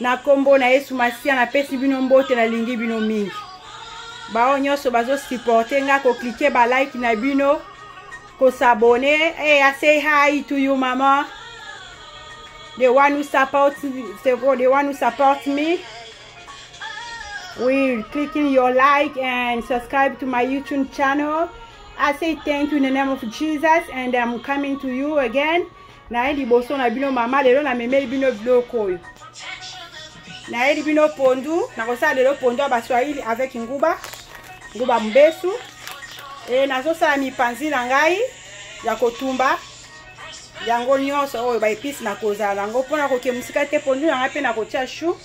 na nkombo na yesu masiya napesi bino mbote nalingi bino mingi baoyo nyonso bazosupporte nga koklike balike na bino kosabone hey, eh, i say hi to you mama the one who support, the one who support me with clicking your like and subscribe to my youtube channel i say thank you in the name of jesus and i'm coming to you again naye liboso na bino mama lelo namemeli bino biloko oyo nayeli bino pondu nakosala lelo pondu ya baswahili avec nguba nguba mobesu e nazosala mipanzi na ngai ya kotumba yango nyonso oyo baepisi nakozala yango mpo nakoke mosika te pondu na ngai mpe nakotia chou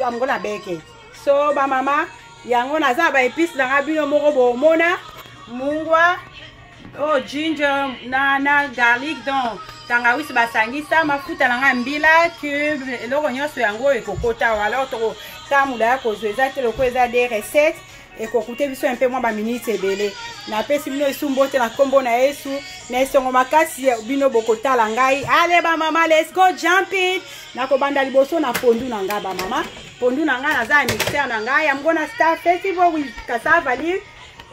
yango na beke so bamama yango naza ba epice na nga bino moko bomona mungwa o oh, ginger na, na garlic donc tangawisi basangisa mafuta na nga mbila cube eloko nyonso yango ekokota wala tokotambola ya kozwa eza te lokola eza de recette ekokute biso mpe mwa baminiti ebele napesi bino esu mbote na nkombo na yesu na esongo makasi bino bokotala ngai ale bamama lesco jumping nakobanda liboso na pondu na ngai bamama pondu na ngai naza ya mixer na ngai yango na star festival wi kasava live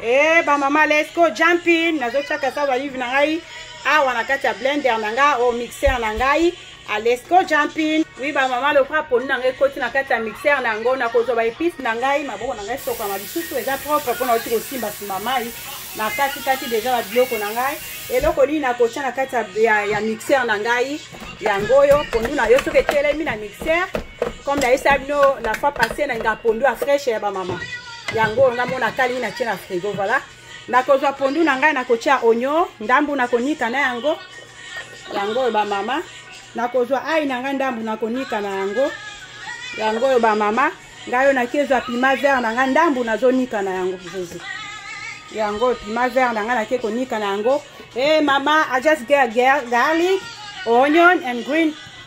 e eh, bamama lesco jumping nazotya kasava live na ngai awa na kati ya blender na ngai o oh, mixer na ngai alesco jumping wi bamama lokola poni na ngai ekoti na kati ya mixere na yango nakozwa baepice na ngai maboko na ngai esokama lisusu eza propre mpo nauti kosimba nsima mai na katikati deja babiloko na ngai eloko nini nakotya na kati ya, ya mixere na ngai yango oyo pondu na yo soki etelemi na mixere comme nayesa bino la fois passé nalinga pondu ya fraîche ya bamama yango oyo ngai mona kali nini natye na frigo voilà nakozwa pondu na ngai nakotya onyo ndambu nakonika na yango yango oyo bamama nakozwa ai na ngai ndambu nakonika na yango yango oyo bamama ngai oyo nakezwa pima vert na ngai ndambu nazonika na yango jesus yango oyo pima vert na ngai nake konika na yango e hey, mama i just get garlic onion and green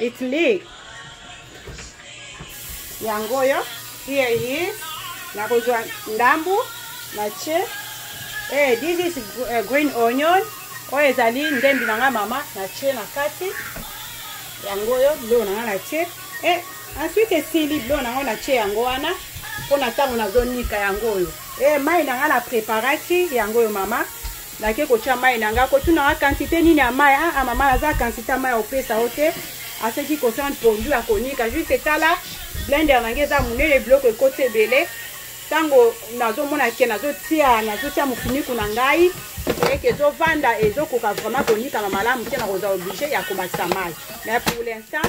It's me. Yango yo. Here he is. Nakozwa ndambu na che. Eh, this is eh, green onion. Oyo ezali ndembi na nga mama na che na kati. Yango yo biloko na nga na che. Eh, ensuite esili biloko na nga na che yango wana mpo na ntango nazonika yango oyo. Eh, mai na nga na preparaki yango oyo mama. nake kotya mai na ngai kotunaka kantite nini ya mai aa ah, ah, mama naza kantite ya mai opesa yo te aseki kosana pondu ya konika juste etala blender na ngai eza monene biloko ekoti ebele ntango nazomona ke nazotia nazotia mofiniku na ngai eke ezovanda ezokoka vraiment konikama malamu te nakozwa oblige ya komatisa mai mais pour l'instant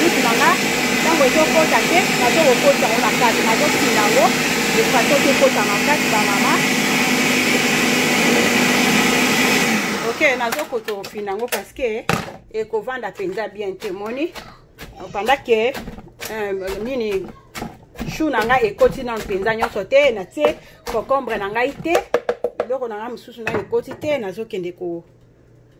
Bisu na nga ntango ezokota te nazokokota yango na kati nazotinda yango efaso tokota na kati bamama ok nazokota ofina yango parceke ekovanda mpenza bien te moni opandake euh, nini chou na ngai ekoti nano mpenza nyonso te natie cocombre na ngai te biloko na ngai mosusu ngai ekoti te nazokende ko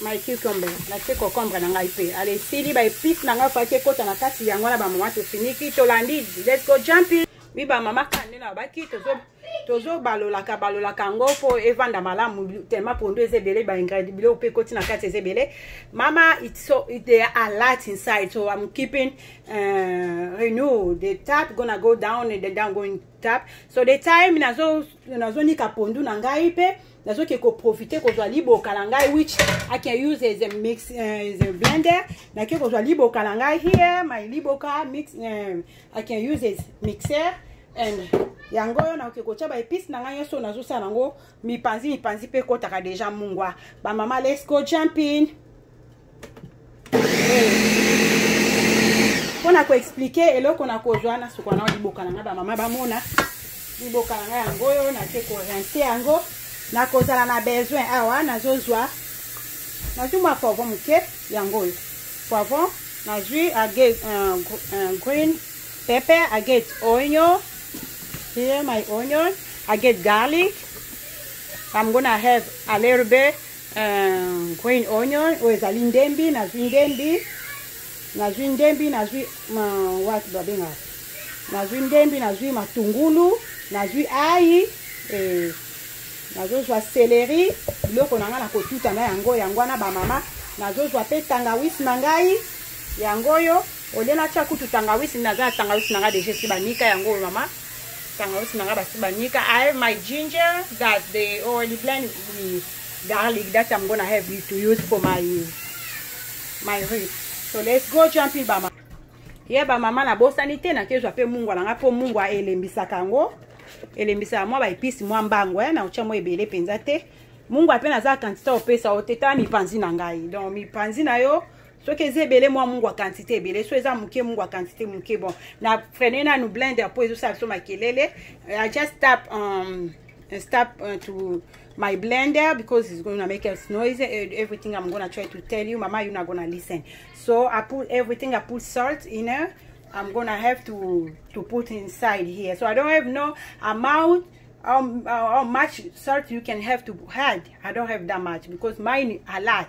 my cucumber natie cocombre na ngai mpe ale esili ba epice na ngai faki ekota na kati yango wana bamama tofiniki tolandi let's go jumping mi bamama kande na babaki tozobalolaka balolaka yango mpo evanda malamu tellement pondu eza ebele baingred biloko mpe ekoti na kati eza ebele mama so, they are a lot inside so i'm keeping uh, renew the tap gonna go down and the down going tap so the time nazonika nazo pondu na ngai mpe nazoke koprofite kozwa liboka na ngai which i can use as a mix uh, as a blender nake kozwa liboka na ngai here my liboka mix um, i can use as mixer and yango oyo nakoki kotya baepice na ngai nyonso nazosala yango mipanzi mipanzi mpe ekotaka deja mungwa bamama lesco jumping mpo na koexplike eloko na kozwa na suka nao liboka na ngai bamama bamona liboka na ngai yango oyo nake korense yango nakozala na besoin awa nazozwa nazwi mwa poivron moke yango oyo poivron nazwi agate uh, uh, green pepper agate oignon here my onion agate garlic i'm gonna have a little bit green onion oyo ezali ndembi nazwi ndembi nazwi ndembi nazwi wati babengaka nazwi ndembi nazwi matungulu nazwi ayi eh, nazozwa seleri biloko na ngai nakotuta na yango yango wana bamama nazozwa mpe tangawisi na ngai yango oyo olie natya kutu tangawisi naza na tangawisi na ngai deja esi banika yango oyo mama Tangawizi na nga basi banika. I have my ginger that they already blend with garlic that I'm gonna have you to use for my my rib. So let's go jump in bama. Ye ba mama na bosani te na kezwa pe mungwa na nga po mungwa elembisaka yango. Elembisaka mwa ba epices mwa mbango eh na ucha mwa ebele penza te. Mungwa pe naza quantité opesa oteta mipanzi na ngai. Donc mipanzi na yo soki eza ebele mwa mungu ya quantité ebele so eza moke mungu ya quantité moke bon na frene nanu blender mpo ezosala biso makelele i just tap um, stop uh, to my blender because it's gonna make us noise eh, everything i'm gonna try to tell you mama you're not gonna listen so i put everything i put salt in there i'm gonna have to to put inside here so i don't have no amount how, how much salt you can have to add i don't have that much because mine a lot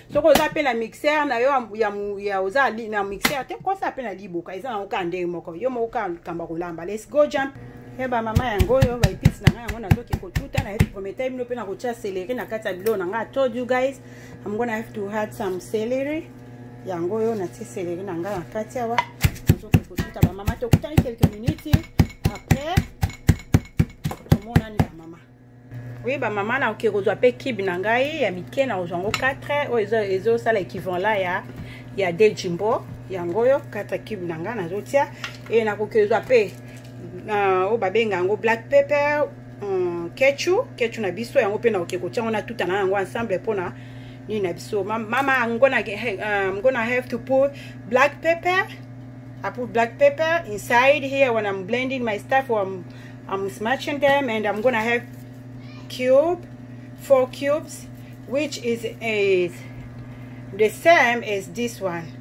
soki oza mpe na mixeur na yo ya, ya oza na mixeur te kosa mpe na liboka eza nango kaka ndenge moko yo moko kaka likambo kolamba les go jump e bamama yango oyo baepisi na ngai yango nazoki kotuta na prometai bino mpe nakotya celeri na kati ya biloo na ngai told you guys i'm gonna have to had some celery yango oyo natie celery na ngai na kati awa nazoki kotuta bamama tokutani quelques minutes après tomonani bamama oui ba mama na oke kozwa pe kibe na ngai ya mike na kozwa yango 4 oyo oh, ezosala equivalent ya ya de jimbo yango oyo 4 kibe na ngai nazotia e nakoki kozwa pe oyo oh, babenga yango black pepper um, kechu kechu na biso yango mpe nakoki kotia yango natuta na yango ensemble mpona nini na biso mama i'm gonna, uh, I'm gonna have to put black pepper i put black pepper inside here when i'm blending my stuff or I'm I'm smashing them and I'm gonna have cube, four cubes, which is, is the same as this one.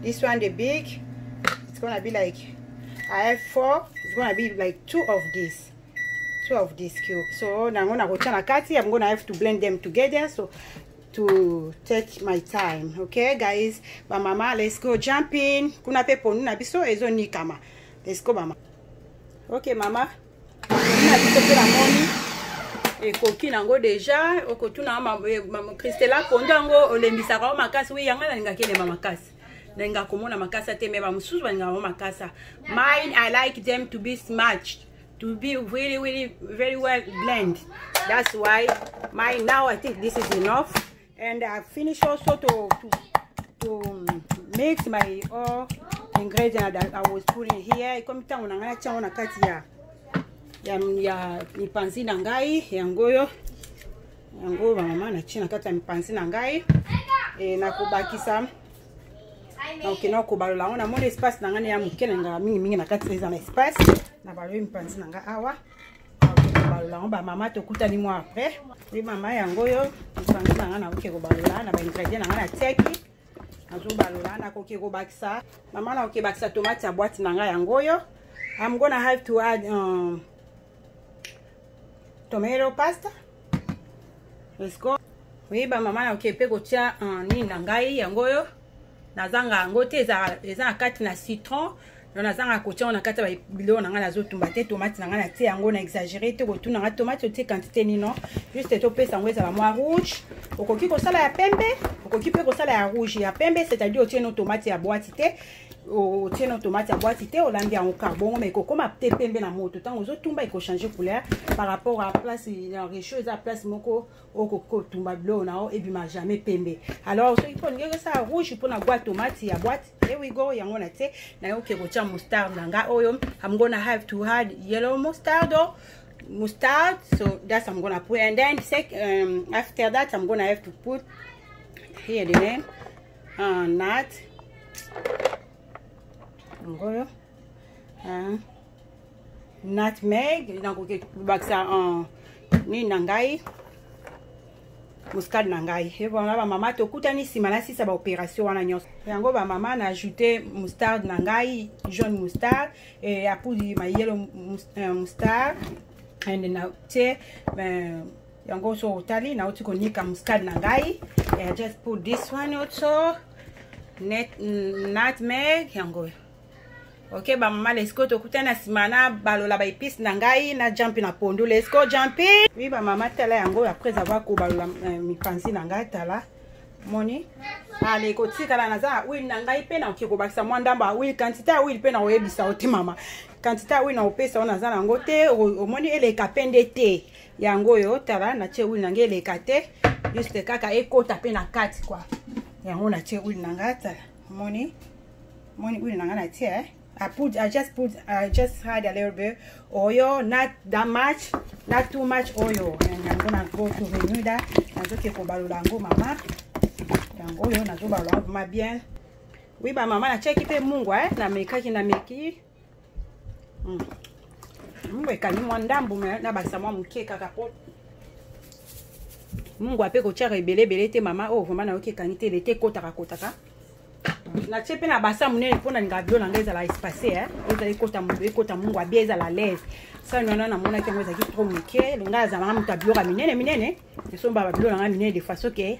This one, the big, it's gonna be like, I have four, it's gonna be like two of this. Two of this cube. So now I'm gonna go to kati. I'm gonna have to blend them together. So to take my time okay guys bamama let's go jumping kuna pe ponu na biso ezonikama let's go mama ok mama na biso mpe namoni ekoki nango deja okotuna christela kondo yango olembisaka yango makasi wi yanga nalingaki elemba makasi nalingaka komona makasa te me bamosusu balingaka yango makasa mine i like them to be smatched to be really really very well blend that's why my now i think this is enough and I finish also to to to mix my all ingredient that I was putting here ikomi ntango na ngai natyango na kati ya ya ya mipanzi na ngai yango oyo yango bamama natie na kati ya mipanzi na ngai e, nakobakisa donc nakobalola yango namoni espace na ngai na ya moke na ngai mingimingi na kati eza na espace nabaloyi mipanzi na ngai awa yango bamama tokutani mwa après mpe mama yango oyo lisango na ngai nakoki kobalola na baingredient na ngai natiaki nazobalola nakoki kobakisa mama nakoki bakisa tomate ya bwati na ngai yango oyo am gonna have to add um, tomato pasta let's go oui bamama nakoki mpe kotya uh, nini na ngai yango oyo nazanga yango te eza na kati na citron no nazanga kotia yango na kati ya biloko na ngai nazotumba te tomate na ngai natie yango na exagere te kotuna ngai tomate otie quantité nino juste topesa yango ezala mwa rouge okoki kosala ya pembe okoki mpe kosala ya rouge ya pembe c'est-à-dire otie no tomate ya boati te otie no tomate ya boati te olambi yango kar bongo mai kokoma te pembe na moto ntango ozotumba ekochange couleur par rapport à place ya rechaud eza place moko okotumba biloko na yo ebima jamais pembe alors soki mpo olingi okosala rouge mpo na gwa tomati ya boite here we go yango na te nayoki kotya mustard na nga oyo i'm gonna have to add yellow mustard oh. mustard so that's i'm gonna put and then sec, um, after that i'm gonna have to put here the name uh, nut ngoyo hein? nutmeg nakoki kobakisa uh, nini na ngai muscade na ngai ebona bamama tokutani nsima na sisa baopération wana nyonso yango bamama na ajoute mustarde na ngai jaune mustarde e, ya poudre ma yelo euh, mustarde ende na tie euh, yango so otali nauti konika muscade na ngai just put this one also net nutmeg yango oyo ok bamama lesiko tokutani na nsima na balola baepice na ngai na jampi na pondu lesiko jampi wi bamama tala yango après avoir kobalola euh, mipanzi na ngai tala moni ale kotikala naza na huile na ngai mpe nakoki kobakisa mwa ndambo ya huile kantite ya huile mpe nakoyebisa yo te mama kantite ya huile nakopesa yo naza na yango te omoni eleka mpe nde te yango oyo tala natie huile na ngai eleka te juste kaka ekota mpe na kati kua yango natie huile na ngai tala omoni moni huile na ngai na tie eh? I put I just put I just had a little bit oil not that much not too much oil yango na go to Bermuda nazoki kobalola yango mama yango oyo nazobalola yango ma bien oui ba mama na cheki mpe mungwa eh? namekaki nameki Mm. mungu ekangi mwa ndambo me nabakisa mwa moke kaka mpo mungu ape kotyaka ebele ebele te mama oyo oh, vraimen nayoki ekangi te lete ekotaka kotaka natie mpe na basa monene mpo nalingaka bilo na ngai ezala espace eh. ezala ekota ekota mungu abia ezala laise sani wana namonaki yango ezalaki trop moke longai azala na moto ya biloko ya minene minene esomba babilo na ngai minene de façon ke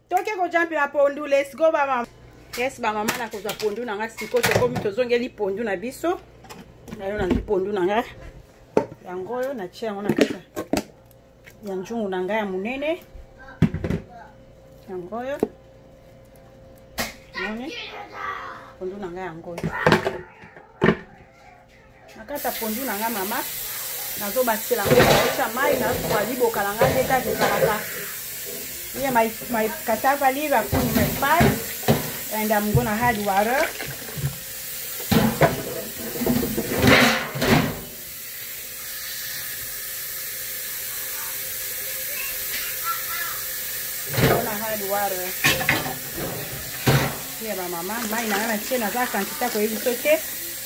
toke koja mpe bapondu let's go bamama yes bamama nakozwa pondu na nga sikoyo tokomi tozongeli pondu na biso nayo nazwi pondu na nga yango oyo natie yango na kati ya nzungu na nga ya monene yango oyo moni pondu na nga yango oyo nakata pondu na nga mama nazobakisela ngo naotia mai nazuwa liboka na nga nde kaka ezalaka ye my, my cassava leaf i put in my spice and i'm gonna add water add water ya bamama mai na nga na tie naza kantita koyebi so te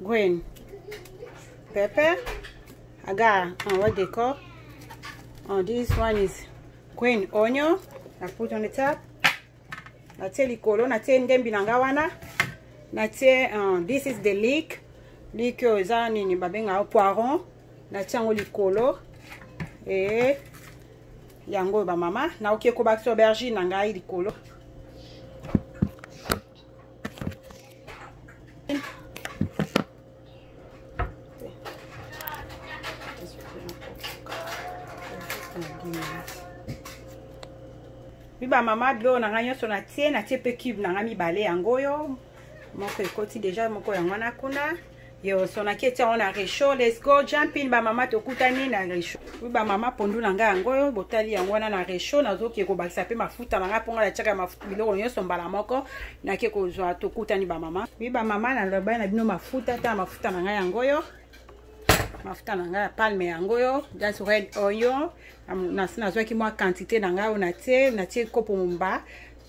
green pepper i got uh, what they call oh, this one is green onion i put on the top natie likolo natie ndembi na nga wana natie uh, this is the leek leek oyo eza nini babengaka poiron natie yango likolo e yango oyo bamama naoki ekobakisa aubergine na ngai likolo mi bamama bilo na ngai nyonso natie natie mpe cube na ngai mibale yango oyo moko ekoti deja moko yango wana kuna yo sonaki etia yango na rechaud let's go jumpin bamama tokutani na rechaud wi bamama pondu na ngai yango oyo botali yango wana na rechaud nazoke kobakisa mpe mafuta na ngai mpo ngai natiaka mafuta biloko nyonso mbala moko nake kozwa tokutani bamama wi bamama nalobai na bino mafuta ta mafuta na ngai yango oyo mafuta na ngai ya palme yango oyo just red oil nazwaki mwa quantité na ngai oyo natie natie kopo momba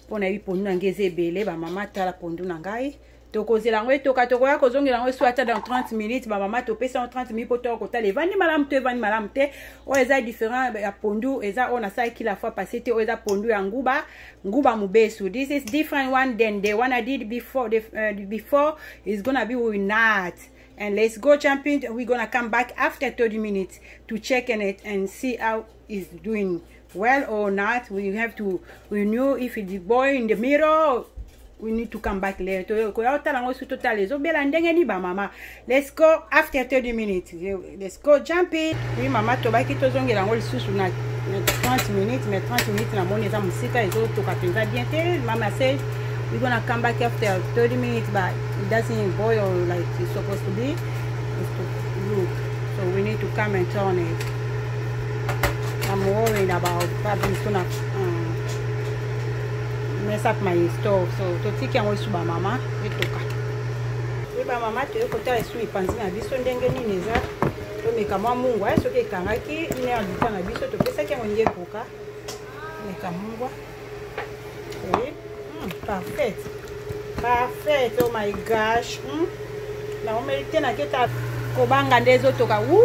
mpo nayebi pondu na ngai eza ebele bamama tala pondu na ngai tokozela yango etoka tokoya kozongela yango esu ata dans 30 minutes bamama topesa yango 30 minutes mpo toya kotala evandi malamu to evandi malamu te oyo eza différent ya pondu eza oyo nasalaki la fois passé te oyo eza pondu ya nguba nguba mobesu this is different one than the one i did before, the, uh, before is gonna be with not and let's go champion we're gonna come back after 30 minutes to check in it and see how is doing well or not we have to we knew if the boy in the mirror we need to come back later tokoya kotala yango soki totala ezobela ndenge ni bamama let's go after 30 minutes let's go jump in oui mama tobaki tozongela yango lisusu na 30 minutes mais 30 minutes namoni eza mosika ezotoka mpenza bien te mama say we're gonna come back after 30 minutes but it doesn't boil like it's supposed to be is to look. So we need to come and turn it. I'm worried about probably soon up, um, mess up my stove. So to take yango isuba mama etoka. Eba mama toye kotala esu mipanzi na biso ndenge nini eza tomeka mwa mungwa soki ekangaki ine ya lita na biso topesaki yango nde ekoka meka mungwa oui mm, parfait parfait oh my gosh mm. na omerite na keta kobanga nde ezotoka u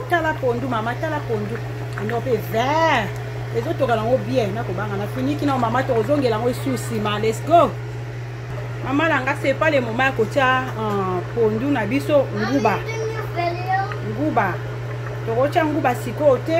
tala pondu mama tala pondu ino mpe vert ezotoka nango bien nakobanga na finiki nao mama tokozongela yango esu nsima let's go mama na nga sepa le moma ya kotya euh, pondu na biso nguba nguba tokotya nguba sikoyo te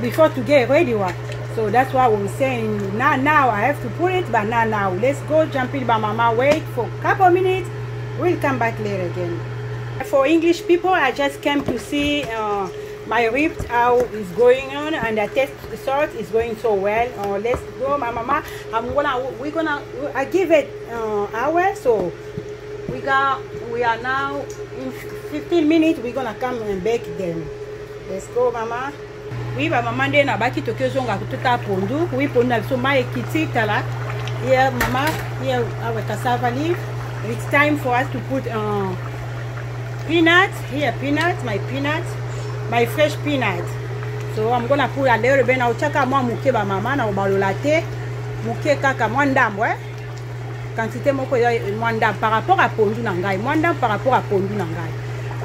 before to get ready wa so that's why we saying now now i have to put it but now now let's go jump in by mama wait for a couple minutes we'll come back later again for english people i just came to see uh, my ribs how is going on and the test salt is going so well uh, let's go my mama i'm gonna we're gonna i give it uh, hour so we got we are now in 15 minutes we're gonna come and bake them Let's go mama. Oui ba mama nde na baki toki ozonga tuta pondu. Oui pondu na biso mai ekiti tala. Here mama, here our cassava leaf. It's time for us to put uh, peanut. Here peanut, my peanut, my fresh peanut. So I'm gonna put a little bit na ochaka mwa muke ba mama na obalola te. Muke kaka mwa ndambo eh. quantité moko ya mwa ndambo par rapport ya pondu na ngai mwa ndambo par rapport ya pondu na ngai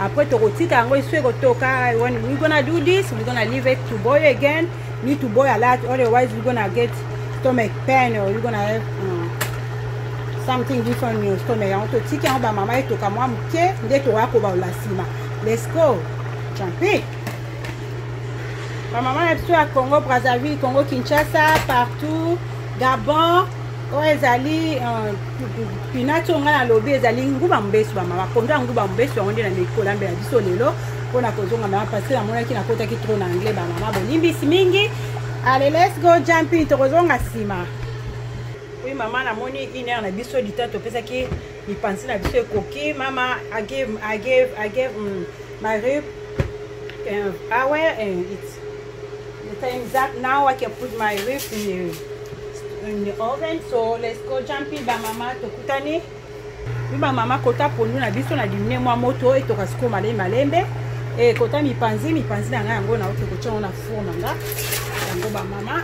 après tokotika yango esu ekotoka when we gonna do this we gonna leave it to boil again need to boil a lot otherwise we gonna get stomach pain or we gonna have um, something different in your stomach yango totika yango bamama etoka mwa moke nde tokoya kobalola nsima let's go champi bamama na biso ya congo brazzaville congo kinshasa partout gabon oyo oh, ezali euh, pinati oyo ngai nalobi ezali nguba mobesu bamama pondu ya nguba mobesu yango nde na mikolambela biso lelo mpo na kozonga mama parce que namonaki nakotaki tro na anglais bamama bolimbisi mingi ale let's go jumping tokozonga nsima oui mama namoni une heure na biso lita topesaki mipanzi na biso ekoki mama agave agave agave mm. My rib, um, I wear and uh, it's the time is up. Now I can put my rib in the, in the oven. So let's go jumping by mama to kutani. Biba mama kota pondu na biso na dimine mwa moto etoka siko malembe malembe. E kota mipanzi mipanzi na ngai yango na oto kotia na four na nga. Yango ba mama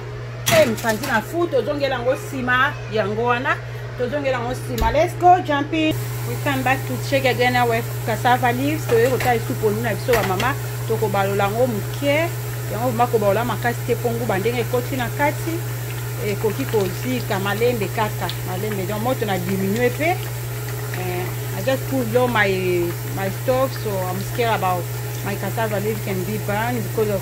Eh, mpanzi na fu tozongela yango nsima yango wana tozongela yango nsima let's go jumping we come back to check again our cassava leaves toyei kotala lisusu pondu na biso bamama tokobalola yango moke yango vrima kobalola makasi te mpo nguba ndenge ekoti na kati ekoki kozika malembe kaka malembe donc moto na diminue mpe eh, i just put low my, my stove so i'm scared about my cassava leaf can be burned because of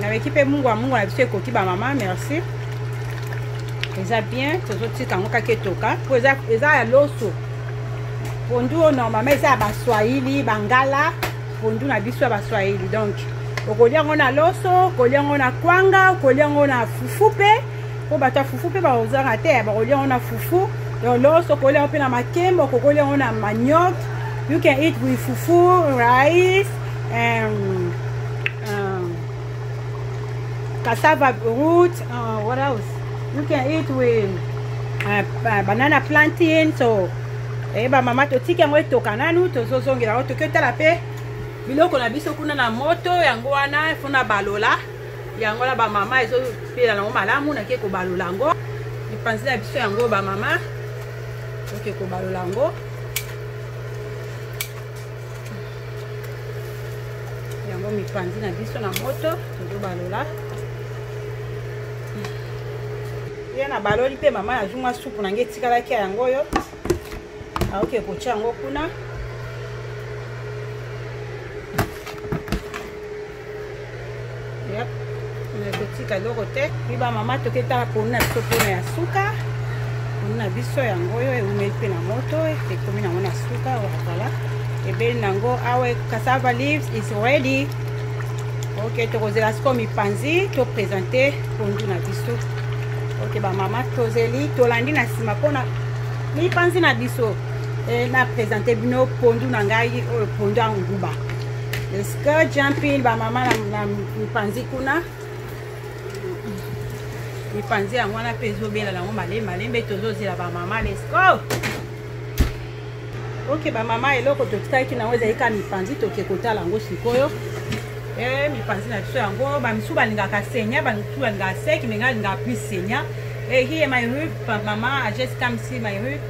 nabeki mpe mungwa mungwa na biso ekoki bamama merci eza bien tozotika yango kaka etoka mpo eza ya loso pondu oyo normalement eza ya baswahili bangala pondu na biso ya baswahili donc okolia yango na loso okolia yango na kwanga okolia yango na fufu mpe po bato ya fufu mpe bakozanga te bakolia yango na fufu donc loso okolia yango mpe na makemba okokolia yango na manioc you can eat with fufu rice um, um, cassava root uh, what else you can eat with uh, uh, banana plantain so eh, bamama totiki yango etoka nanu tozozongela yango toki otala mpe biloko na biso kuna na moto yango wana mpo na balola yango na bamama ezopela nango malamu nake kobalola yango epanzi na biso yango bamama oke kobalola yango yango mipanzi na biso na moto tozobalola ye nabaloli mpe mama nazwi mwa supu na nge etikalaki ya yango oyo aoke kotya yango kuna nazotika eloko te miba mama toke tala ponu na biso mpona ya suka ponu na biso yango oyo eumeli mpe na moto ekomi nango na suka wazala ebeli nango awa cassava leaves is ready ok tokozela sikoyo mipanzi topresente pondu na biso ok bamama tozeli tolandi na nsima mpona mipanzi na biso e, na présente bino pondu na ngai oyo pondu ya nguba eske jumpin bamama na mipanzi kuna mipanzi yango wana mpe ezobela nango malembe malembe tozozela bamama lesko ok bamama eloko totikaki nango ezali kaka mipanzi toke kotala yango sikoyo e mipanzi na biso yango bamisu balingaka senya bamisu balingaka seki menga alingaka plus senya e eh, here my root mama i just come see my root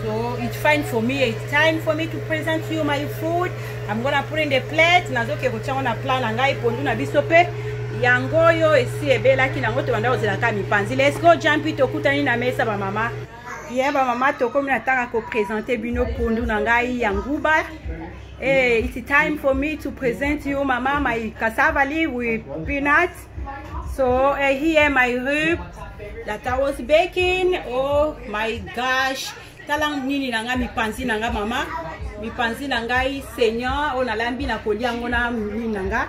so it's fine for me it's time for me to present you my food i'm gonna put in the plate nazoke kotya yango na plan na ngai pondu na biso mpe yango oyo esi ebelaki nango tobanda kozelaka mipanzi let's go jampi tokutani na mesa bamama ye bamama tokomi na ntango ya kopresente bino pondu na ngai ya nguba Hey, eh, it's time for me to present you mama my cassava leaf with peanut so uh, here my rib that i was baking oh my gosh tala nini na ngai mipanzi na ngai mama mipanzi na ngai seigneur oyo nalambi na kolia yango na mini na ngai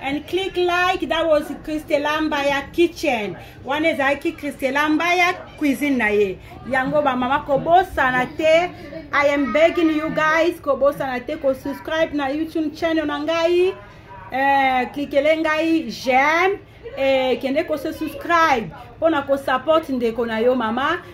and click like that was christela mbaya kitchen wana ezalaki christela mbaya cuisine na ye yango bamama kobosana te i am begging you guys kobosana te kosubscribe na youtube channel na ngai eh, klikele ngai j'aime eh, kende kose subscribe mpo na kosupport ndeko na yo mama